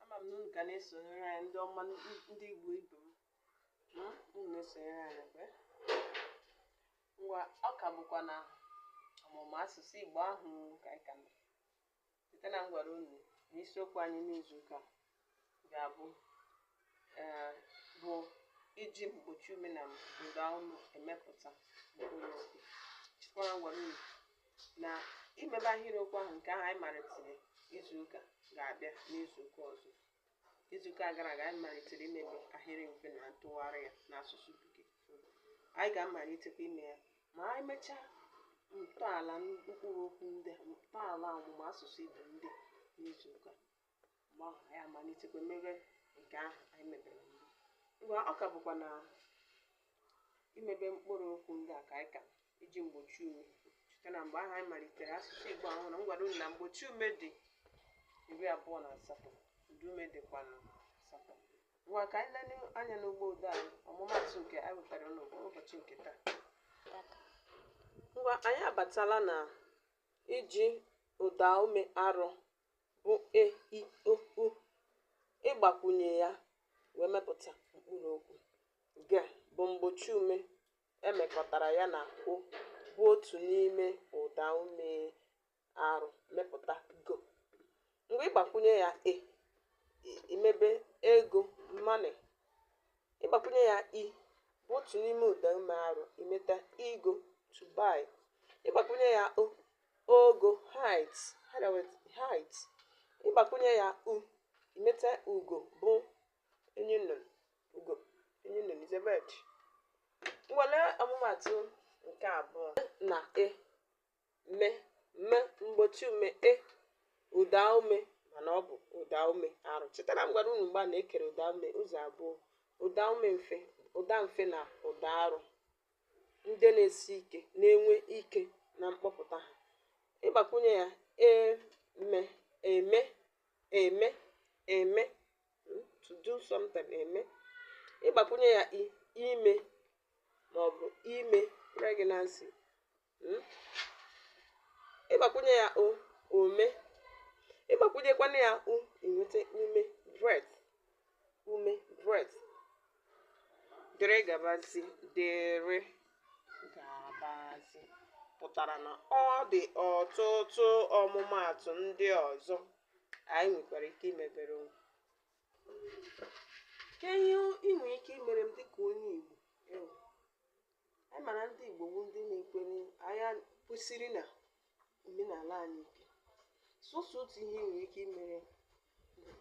ama m na unu ka na-esonyere anyị ndị ọma ndị Igbo ibe m hmm? unu na-esonyere anyị kwe ngwa ọ ka bụkwa na ọmụmụ asụsụ Igbo ahụ ka anyị ka nọ cheta na m gwara unu na isiokwu anyị n'izu ụka ga-abụ ee, bụ iji mgbochi ume na ụda olu emepụta mkpụrụ okwu chetakwa na m gwara unu na imebe ahịrịokwu ahụ nke ahụ anyị malitere izu ụka ga-abịa n'izu ụka ọzọ izu ụka gara aga anyị malitere imebe ahịrị mfe na ntụgharị ya n'asụsụ bekee anyị ga-amalitekwa ime ya ma anyị mechaa ntọala mkpụrụ okwu ndị a ntọala ọmụmụ asụsụ igbo ndị n'izu ụka mgbe ahụ anyị amalitekwa mebe nke ahụ anyị mebere mbụ ngwa ọ ka bụkwa na imebe mkpụrụ okwu ndị a ka anyị ka iji mgbochi ume cheta na mgbe ahụ anyị malitere asụsụ igbo ahụ na m gwara unu na mgbochi ume dị iri abụọ na asatọ ụda ume dịkwana asatọ ngwa ka anyị lele anya n'ugbo ụda anyị ọmụmatụ nke anyị wetara n'ụbọchị nke taa ngwa anyị abatala na iji ụda ume arọ bụ e i o u ịgbakwunye ya wee mepụta mkpụrụ okwu g bụ mgbochi ume e mekọtara ya na o bụ otu n'ime ụda ume arụ mepụta go ngwa ị gbakwunye ya e i mebe ego money Ị gbakwunye ya i bụ otu n'ime ụdaume arụ i meta igo, to buy. Ị gbakwunye ya o, ogo, height, height. Ị gbakwunye ya u, i meta ugo bụ enyi nnụnụ, ugo, enyi nnụnụ is a bird. Ngwa lee ọmụmaatụ nke abụọ na e. me m mgbochi ume e ụda ume mana ọ bụ ụda ume arụ cheta na m gwara unu mgbe a na-ekere ụda ume ụzọ abụọ ụda ume mfe ụda mfe na ụda arụ ndị na-esi ike na-enwe ike na mkpọpụta ha ị gbakwunye ya eme eme eme eme hmm, to do something eme ị gbakwunye ya i ime maọbụ ime pregnancy hmm? ị gbakwunye ya o ome ị gbakwunyekwana ya u i nweta ume breath ume breath dịrị gabazi dịrị gabazi pụtara na ọ dị ọtụtụ ọmụmaatụ ndị ọzọ anyị nwekwara ike imebere onwe kee ihe i nwere ike imere m dịka onye Igbo Anyị mara ndị Igbo bụ ndị na-ekwere anya kwesiri na omenala anyị ike. Sọsọ otu ihe nwere ike imere